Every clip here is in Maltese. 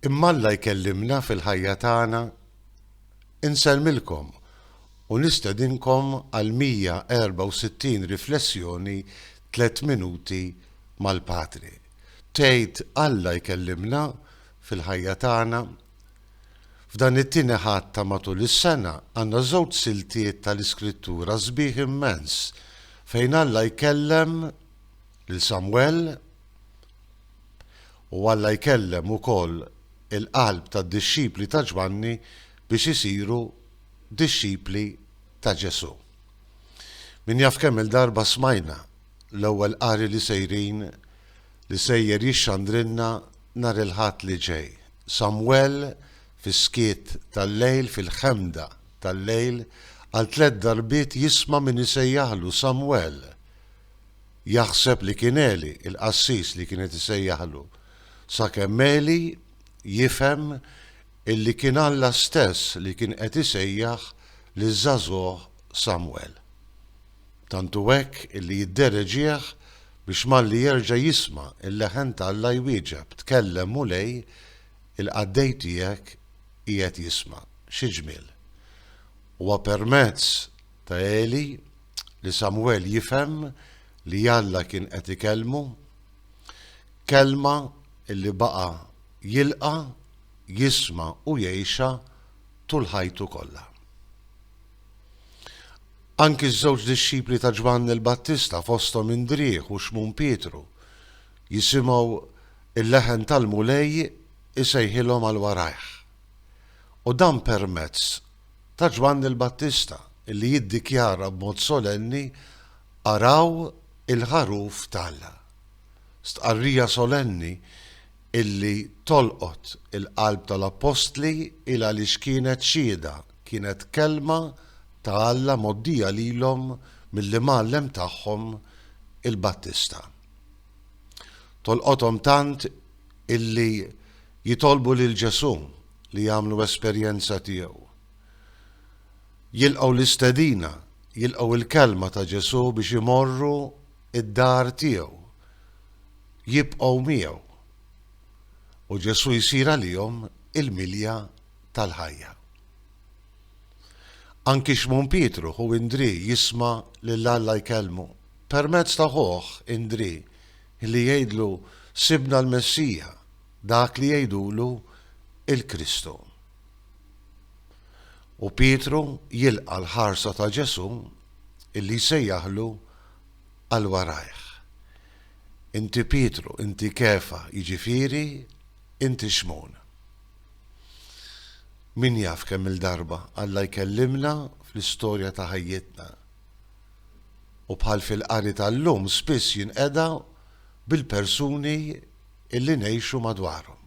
Imma Alla jkellimna fil-ħajja tagħna, Insellmilkom u nistedinkom għal 164 riflessjoni tliet minuti mal-Patri. Tgħid Alla jkellimna fil-ħajja tagħna? F'dan it-Tieni Ħadd ta' matul is-sena għandna żewġ siltiet tal-Iskrittura sbieħ immens fejn Alla jkellem lil Samwel U Alla jkellem ukoll il-qalb tad-dixxipli ta' Ġwanni biex isiru dixxipli ta' Ġesù. Min jaf kemm-il darba smajna l-ewwel qari li sejrin li sejjer jixxandrilna nhar il-Ħadd li ġej, Samwel fis-skiet tal-lejl, fil-ħemda tal-lejl, għal tliet darbiet jisma' min isejjaħlu, Samwel! Jaħseb li kien Għeli, il-qassis li kienet isejjaħlu, sakemm Għeli jifhem illi kien Alla stess li kien qed isejjaħ liż-żagħżugħ Samwel. Tantu hekk illi jiddereġieh biex malli jerġa' jisma' l-leħen t'Alla jwieġeb, Tkellem, Mulej, il-qaddej tiegħek qiegħed jisma'. Xi ġmiel! Huwa permezz ta' Għeli li Samwel jifhem li Alla kien qed ikellmu, kelma li baqa' jilqa', jisma' u jgħixha tul ħajtu kollha. Anki ż-żewġ dixxipli ta' Ġwanni l-Battista fosthom Indrieħ u Xmun Pietru jisimgħu l-leħen tal-Mulej isejħilhom għal warajh. U dan permezz ta' Ġwanni l-Battista, li jiddikjara b'mod solenni, Araw il-Ħaruf t'Alla. Stqarrija solenni li tolqot il-qalb tal-Appostli il għaliex kienet xhieda, kienet kelma ta' Alla mgħoddija lilhom mill-Imgħallem tagħhom il-Battista. Tolqothom tant illi jitolbu lil Ġesù li jagħmlu esperjenza tiegħu. Jilqgħu l-istedina, jilqgħu l-kelma ta' Ġesù biex imorru d-dar tiegħu, jibqgħu miegħu. U Ġesù jsir għalihom il-milja tal-ħajja. Anki Xmun Pietru, ħu Indri, jisma' lil Alla jkellmu permezz ta' ħuh Indri li jgħidlu sibna l-Messija, dak li jgħidulu l-Kristu. U Pietru jilqa' l-ħarsa ta' Ġesù li jsejjaħlu għal warajh. Inti Pietru, inti Kefa, jiġifieri inti Xmun. Min jaf kemm-il darba Alla jkellimna fl-istorja ta' ħajjitna. u bħal fil-qari tal-lum spiss jinqeda bil-persuni li ngħixu madwarhom.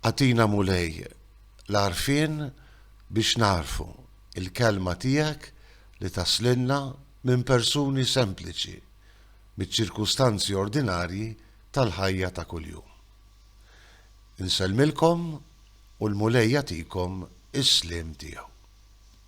Agħtina Mulej l-għarfien biex nagħrfu l-Kelma tiegħek li taslilna minn persuni sempliċi miċ-ċirkustanzi ordinarji tal-ħajja ta' kuljum. Insellmilkom u l-Mulej jagħtikom is-sliem tiegħu.